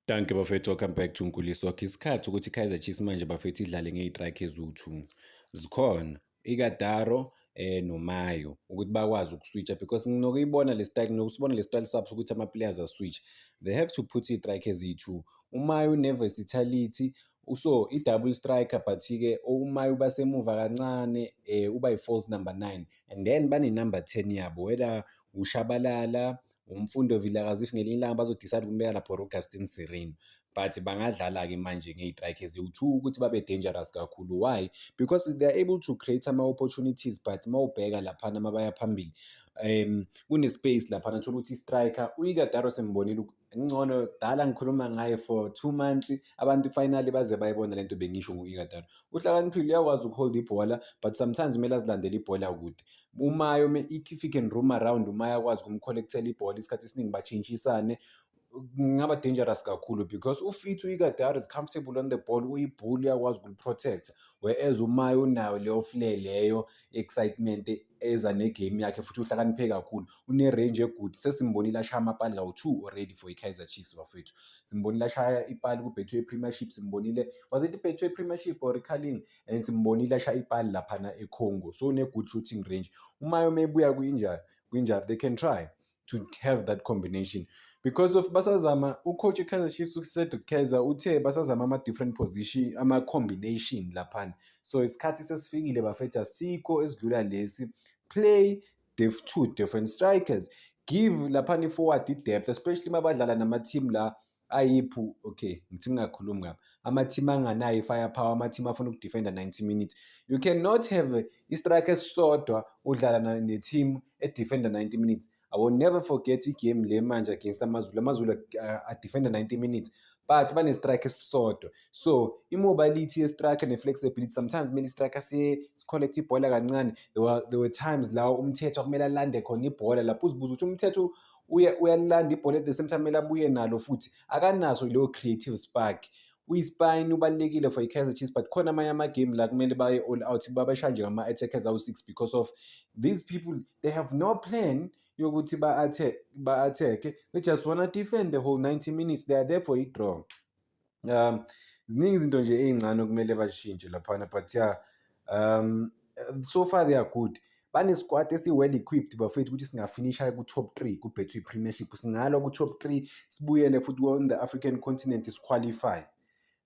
Danke bafethu welcome back to Nkuliso. Okay, isikhathi ukuthi Kaizer Chiefs manje bafethu idlale ngeyitrike eziwu-2. Zikhona iKadaro eh noMayo ukuthi bakwazi ukuswitcha because nginokuyibona le style nginosibona le style saps ukuthi ama players aswitch. They have to put iyitrike eziyi-2. UMayo uneversatility so i-double striker but-ke uma uba semuva kancane um uba yi-false number nine and then banenumber ten yabo whether ushabalala umfundi ovilaka as if ngelinye ilanga bazodecide ukumbeka lapho Augustin Sirino but bangadlala-ke manje ngey'trike eziwu-two ukuthi babe dangerous kakhulu why because they are able to create ama-opportunities but uma ubheka laphana uma baya phambili um kune-space laphana thola ukuthi i-striker uyikadaro sembonile ngcono dala ngikhuluma ngaye for two months abantu finally baze bayibona le nto bengisho ngo-ikadaro uhlakaniphile uyakwazi ukuholda ibhola but sometimes kumele azilandele ibhola kude umayo if he can room around umaya akwazi ukumcollectela ibhola isikhathi esiningi batshintshisane kungaba dangerous kakhulu because ufit uyikadari is comfortable on the ball uyibhula uyakwazi ukuliprotecta whereas umayo unayo leyo flair leyo excitement eza negame yakhe futhi uhlakaniphe kakhulu unerange egood sesimbonile ashaya amapali kawu-two already for i-kaizer chiefs bafowethu simbonile ashaya ipali kubethwe i-premiership simbonile was it ibethwe i-premiership or icaling and simbonile ashaya ipali laphana eCongo so une-good shooting range uma yoma ebuya kwi-injury kwi-injury they can try to have that combination because of basazama ucoach ekaizer chiefs ucedric kaizer uthe basazama ama-different position ama-combination laphana so isikhathi sesifikile bafetha sikho esidlula lesi play the two different strikers give laphana i-forward i-depth especially uma badlala nama-team la ayiphu okay ngithi ngingakhulumi ngapha ama-team anganayo i-firepower ama-team afuna ukudefenda 90 minutes you cannot have i-strike esisodwa udlala ne-team edefenda 90 minutes i will never forget igame le manje against amazulu amazulu uh, adefenda 90 minutes but bane-strike esisodwa so i-mobility ye-strike ne-flexibility sometimes kumele i-strike sicollecte ibhola kancane there were, there were times la umthetho kumele alande khona ibhola lapho uzibuza ukuthi umthetho uye uyalilanda ibhola at the same time elabuye nalo futhi akanaso leyo creative spark uyispine ubalulekile for i-kaizer chiefs but khona amanye amagame la kumele baye all out babashaya nje ngama-attackers awu-six because of these people they have no plan yokuthi ba-attack-e they just wanna defend the whole 90 minutes they are there for i-draw um ziningi izinto nje ey'ncane okumele bazishintshe laphana but ya um so far they are good banesikwati esi-well equipped bafethu ukuthi singafinisha ku-top three kubetway premiership singalwa ku-top three sibuyele futhi on the african continent siqualify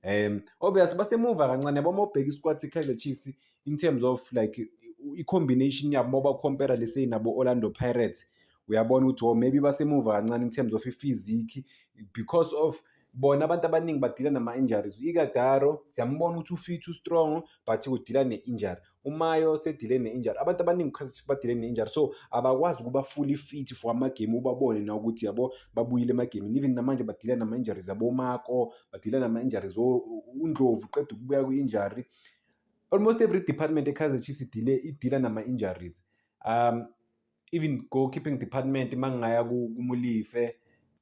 um obvious basemuva kancane yabo uma ubheka isikwati se-kaizer chiefs in terms of like i-combination yabo uma ubakompera leseyi nabo-orlando pirates uyabona ukuthi oh maybe basemuva kancane in terms of i-physique because of bona abantu abaningi badila nama-injuries ikadaro siyambona ukuthi ufit ustrong but udila ne-injury umayo sedile ne-injury abantu abaningi khathi badile ne-injury so abakwazi ukuba fully fit for amagame ubabone na ukuthi yabo babuyile emagemini even namanje badila nama-injuries abomako badila nama-injuries undlovu qeda ukubuya kwi-injury almost every department ekaizer chiefs idile idila nama-injuries um even goalkeeping department uma ngingaya kumulife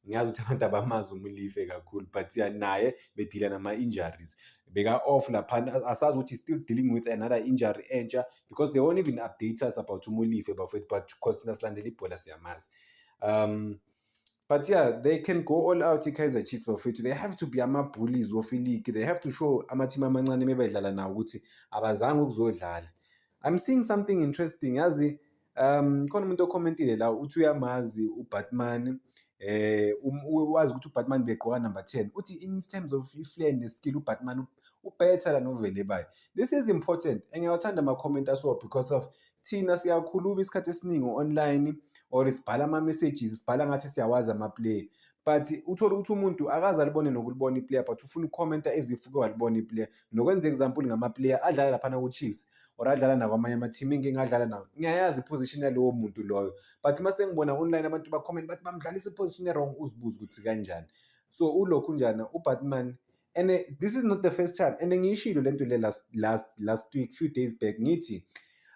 ngiyazi ukuthi abantu abamazi umulife kakhulu but ya naye bedila nama-injuries beka-off laphana asazi ukuthi still dealing with another injury entsha because they won't even update us about umulife bafethu but because thina silandela ibhola siyamazi um but yeah they can go all out i-kaizer chiefs bafethu they have to be ama-bullies wofiligi they have to show ama-team amancane mebedlala nawo ukuthi abazange ukuzodlala i'm seeing something interesting yazi Um, khona umuntu okhomentile la uthi uyamazi uBatman eh um, wazi ukuthi uBatman begqoka number 10 uthi in terms of i-flair ne-skill uBatman ubetter la novele bayo this is important engiyawathanda ama-comment aso because of thina siyakhuluma isikhathi esiningi online or sibhala ama-messages sibhala ngathi siyawazi ama-player but uthole ukuthi umuntu akaze alibone nokulibona iplayer but ufuna ukukhomenta ezifuke walibona iplayer nokwenza example ngamaplayer adlala laphana ku-chiefs or adlala nakwamanye ama-team inkinga adlala nawo ngiyayazi iposition yalowo muntu loyo but uma sengibona online abantu bacomment bathi bamdlalisa iposition erong uzibuze ukuthi kanjani so ulokhu njani ubatman and eh, this is not the first time and ngiyishilo le nto le last, last, last week few days back ngithi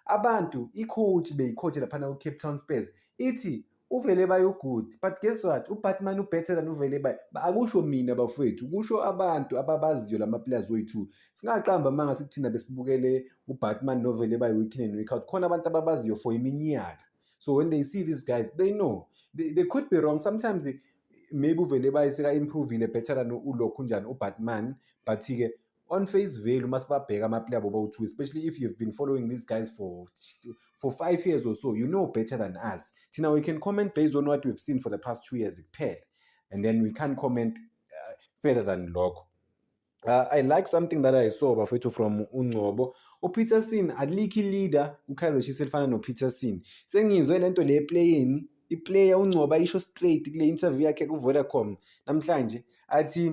abantu i-coach beyi-coach laphana ku-cape town spurs ithi uVeleba you good but guess what uBatman ubetter than uVeleba akusho mina bafowethu kusho abantu ababaziyo lama players wethu singaqamba amanga sikuthina besibukele uBatman noVeleba week in and week out khona abantu ababaziyo for iminyaka so when they see these guys they know they, they could be wrong sometimes maybe uVeleba iseka improvile better than ulokhu njani uBatman but ke on face value uma sibabheka amaplayer abo bawu-two especially if you have been following these guys for, for five years or so you know better than us thina we can comment based on what we've seen for the past two years kuphela and then we can't comment uh, further than lokho Uh, I like something that I saw bafethu from uNgcobo. UPeterson alikhi leader uKaizer Chiefs elifana noPeterson. Sengizwe lento le playing iplayer uNgcobo ayisho straight kule interview yakhe kuVodacom namhlanje athi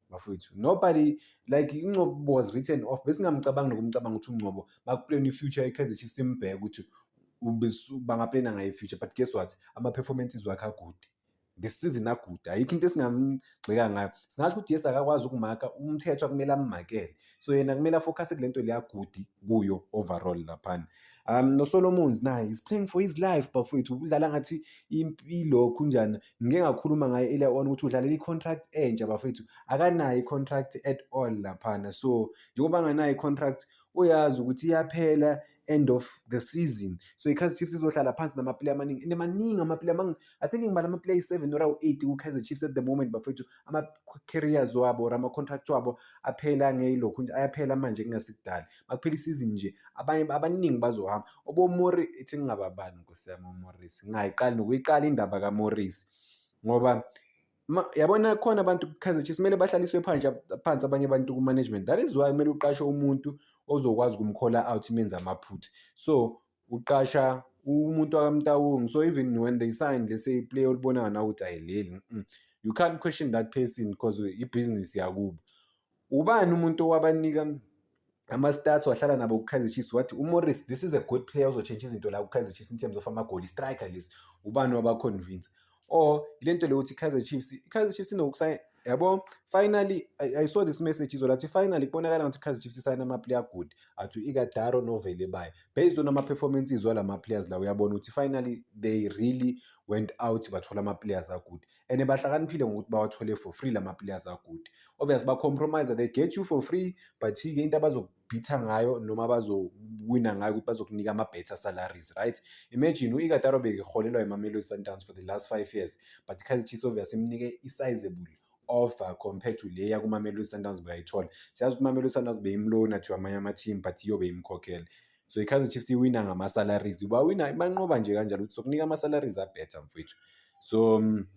bafowethu nobody like ingcobo was written off besingamcabangi nokumcabanga ukuthi ungcobo bakuplane i-future i-kaizer chiefs imbheke ukuthi bangaplana ngayo i-future but guess what ama-performances wakhe agude ngesizini agude ayikho into esingamgxeka ngayo singasho ukuthi yes akakwazi ukumaka umthetho akumele ammakele so yena kumele afocuse kule nto leyagudi kuyo overall laphana um nosolomons naye is playing for his life bafowethu udlala ngathi impilo khunjani ngike ngakhuluma ngaye ile on ukuthi udlalela i-contract entsha bafethu akanayo i-contract at all laphana so njengoba anganayo i-contract uyazi ukuthi iyaphela end of the season so i-kaizer chiefs izohlala phansi namaplayer amaningi and maningi amaplayer amaningi i think ngibala amaplayer i-seven or awu-eight ku-kaizer chiefs at the moment bafethu ama-carriers wabo or ama-contract wabo aphela ngeyilokhu nje ayaphela manje kungasikudala bakuphela isizini nje abanye abaningi bazohamba obomori ithi ngingababani nkosi yami omorisi ngingayiqali nokuyiqala indaba kamorisi ngoba yabona khona abantu kukhaze chiefs kumele bahlaliswe phansi phansi abanye abantu kumanagement that is why kumele uqashe umuntu ozokwazi ukumkhola out imenza amaphutha so uqasha umuntu wakamtawungu so even when they sign let's say play olibona ngana ukuthi ayileli you can't question that person because ibhizinisi yakubo ubani umuntu owabanika ama-stats wahlala nabo ku-kaizer chiefs wathi umorris this is a good player ozotshentsha izinto la ku-kaizer chiefs in terms of amagoli striker lesi ubani wabaconvince or ile nto le ukuthi i-kaizer chiefs i-kaizer chiefs inokusayina yabo finally I, i saw this message izolo athi finally kubonakala ngathi i-kaizer chiefs isayina ama-player good athi u-ikadaro novele bayo based on ama-performance izwa la ma-players la uyabona ukuthi finally they really went out bathola ama-players agood and bahlakaniphile ngokuthi bawathole for free lama players agood obvious ba compromise they get you for free but ke into abazokubhitha ngayo noma bazowina ngayo ukuthi bazokunika ama better salaries right imagine uIkataro bekeholelwa eMamelodi Sundowns for the last 5 years but Kaizer Chiefs obvious imnike isizable offer compared to leya kuMamelodi Sundowns bekayithola siyazi ukuthi uMamelodi Sundowns beyimlona to amanye ama team but iyo beyimkhokhela so i-kaizer chiefs iwina ngama-salaries bawina banqoba nje kanjalo ukuthi sokunika ama-salaries abetter mfowethu so um,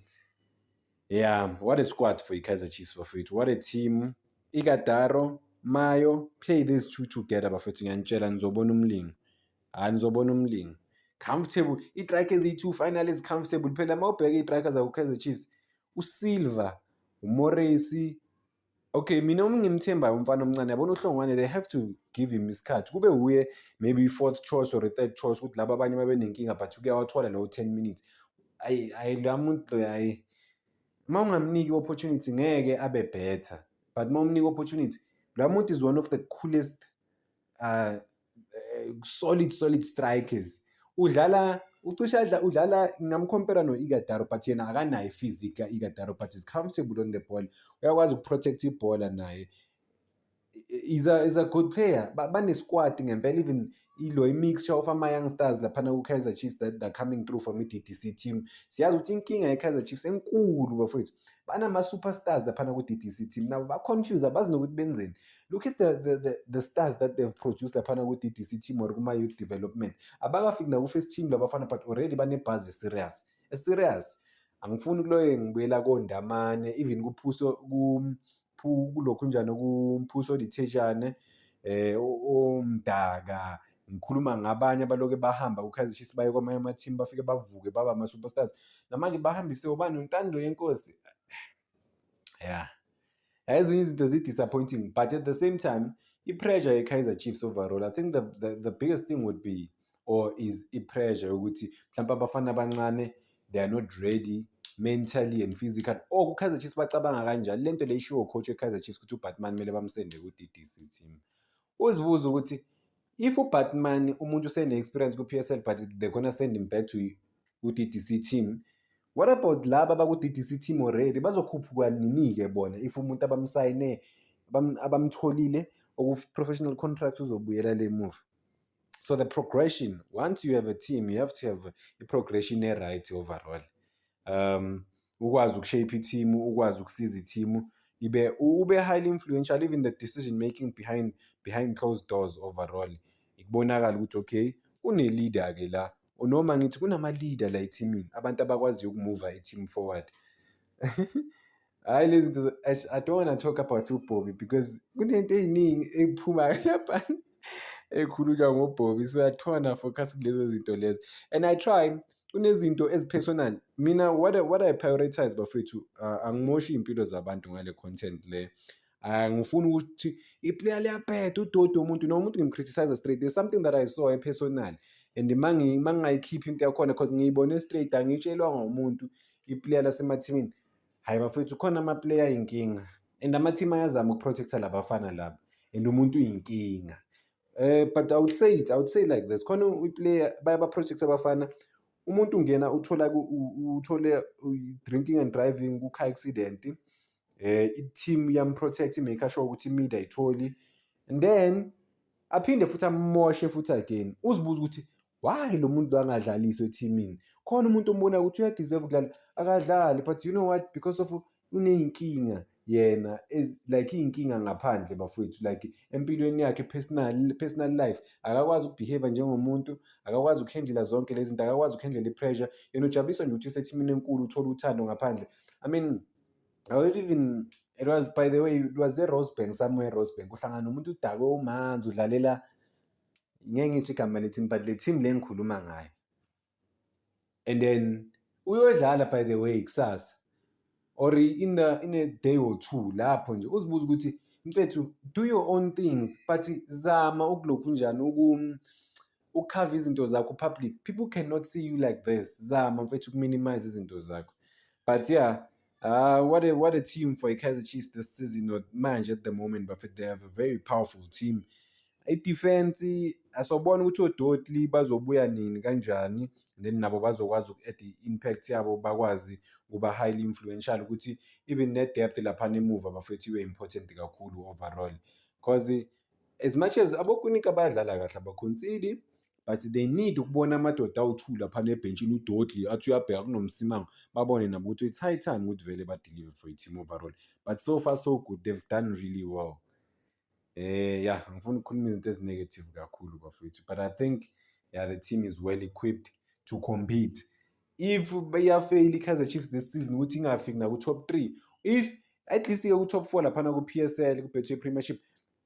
yeah what a squad for i-kaizer chiefs bafowethu what a team ikadaro mayo play these two together bafowethu ngiyanitshela nizobona umlingo hhayi nizobona umlingo comfortable itrike eziyi-two final ezi-comfortable phela uma ubheke itrike zakho-kaizer chiefs usilver umoresi okay mina uma ngimthembayo umfana omncane yabona uhlongwane they have to give him isikhathi kube wuye maybe i-fourth choice or i-third choice ukuthi laba abanye babenenkinga but kuyawathola lawo ten minutes ayi ayi la muntu ayi uma ungamniki i-opportunity ngeke abe better but uma umnika i-opportunity la muntu is one of the coolest uh, eh, solid solid strikers udlala ucisha adla udlala ngingamcompare no-igadaro but yena akanayo i-physic ka-igadaro but is comfortable on the ball uyakwazi ukuprotect ibhola naye is a, is a good player banesquad ngempela even ilo i-mixture of ama-young stars laphana ku-kaizer chiefs that they're coming through from i-ddc team siyazi ukuthi inkinga ye-kaizer chiefs enkulu bafowethu banama-superstars laphana ku-ddc team nabo ba-confuse abazi nokuthi benzeni look at the, the, the, the stars that they've produced laphana ku-ddc team or kuma-youth development abakafiki naku-first team labafana but already banebhazi serious eserious angifuni kuloyo ngibuyela kondamane even kuphuso kulokhu njani kumphuso odithejane eh omdaka ngikhuluma ngabanye abaloke bahamba ku-kaizer chiefs baye kwamanye amathimu bafike bavuke baba ama-superstars namanje bahambise ubani untando yenkosi yeah ezinye izinto zi-disappointing but at the same time i-pressure ye-kaizer chiefs overall i think the, the, the biggest thing would be or is i-pressure yokuthi mhlawumpe abafana abancane they are not ready mentally and physically oh ku-kaizer chiefs bacabanga kanjani le nto le ishiwo coach we-kaizer chiefs ukuthi ubatman kumele bamsende ku-d d c team uzibuza ukuthi if ubatman umuntu usene-experience kwi-psl but they're gonna send him back to u-ddc team what about laba baku-ddc team already bazokhuphuka nini-ke bona if umuntu abamsayine abamtholile oku-professional contract uzobuyela le move so the progression once you have a team you have to have i-progression e-right overall um ukwazi ukushape ithimu ukwazi ukusiza ithimu ibe ube highly influential even the decision making behind behind closed doors overall ikubonakala ukuthi okay une-leader ke la noma ngithi kunama-leader la ethimini abantu abakwaziyo ukumuva i-team forward hayi lezi zinto zo- eish, i don't wanna talk about ubhobi because kunento ey'ningi eyiphumayo lapha ekhulunywa ngobhobi so i try na focus kulezo zinto lezo and i try kunezinto ezipersonal mina what I, what i prioritize bafethu uh, angimoshi iy'mpilo zabantu ngale content le Ah, ngifuna ukuthi iplayer liyabheda udodi womuntu noma umuntu ngimcriticize straight there's something that i saw epersonal and ma ngi- ma ngingayikhiphi into yakhona because ngiyibone straight angitshelwanga umuntu iplayer lasemathimini Hayi bafethu khona amaplayer ayinkinga and ama-team ayazama ukuprotecta labafana laba and umuntu uyinkinga eh but i would say it i would say like this khona iplayer bayabaprojecta abafana umuntu ungena uthola uthole drinking and driving ku-car accident um eh, i-team yamprotect i-make sure ukuthi imida ayitholi and then aphinde futhi amoshe futhi again uzibuza ukuthi why lo muntu angadlaliswa ethimini khona umuntu ombona ukuthi uyadeserve ukudlala akadlali but you know what because of uney'nkinga yena like iy'nkinga ngaphandle bafowethu like empilweni yakhe personal personal life akakwazi ukubehave njengomuntu akakwazi ukuhendlela zonke lezi zinto akakwazi ukuhendlela i-pressure yena ujabuliswa nje ukuthi usethimini enkulu uthole uthando ngaphandle i mean i will even it was by the way it was e-rosebank somewhere e-rosebank uhlangana nomuntu udakwe umanzi udlalela ngeke ngisho igama le-team but le-team le engikhuluma ngayo and then uyodlala by the way kusasa or in the in a day or two lapho nje uzibuza ukuthi mfethu do your own things but zama ukulokhu njani uku ukukhava izinto zakho public people cannot see you like this zama mfethu ukuminimize izinto zakho but yeah Uh, what a what a team for Kaiser Chiefs this season. Not manje at the moment, but they have a very powerful team. I-defense asobona ukuthi odotli bazobuya nini kanjani then nabo bazokwazi uku-add i-impact yabo bakwazi ukuba highly influential ukuthi even ne-depth laphana emuva bafethu ibe important kakhulu overall because as much as abokunika bayadlala kahle abakhonsidi but they need ukubona amadoda awuthuli lapha nebhentshini udodli athi uyabheka kunomsimanga babone nabo ukuthi it's high time ukuthi vele badeliver for i-team overall but so far so good they've done really well eh ya ngifuna ukukhuluma izinto ezinegative kakhulu bafethu but i think yeah the team is well equipped to compete if iyafeyila i-kaizer chiefs this season ukuthi ingafiki naku-top three if at least-ke ku-top four laphana ku-p s l kubethwe i-premiership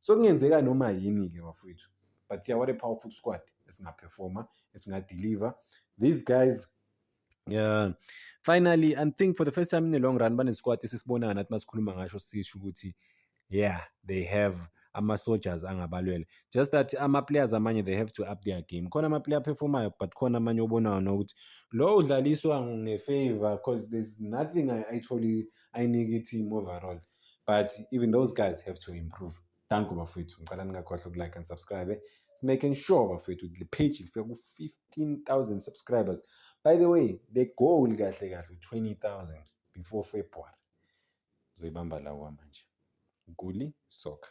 so kungenzeka noma yini ke bafowethu but yeah what a powerful squad esingaperforma esingadeliver these guys yeah finally and think for the first time in a long run banesquad esisibonayo nathi masikhuluma ngasho sisho ukuthi yeah they have ama-soldiers angabalwele just that ama-players amanye they have to up their game khona ama-player aphefomayo but khona amanye obonayo nokuthi lo udlaliswa ngefavor because there's nothing actually ayinike i-team overall but even those guys have to improve thank you bafowethu ngicela ningakhohlwa ukulike and subscribe making sure bafowethu the page lifika ku-15000 subscribers by the way the goal kahle kahle 20000 before february ngizoyibamba lawo manje guli soccer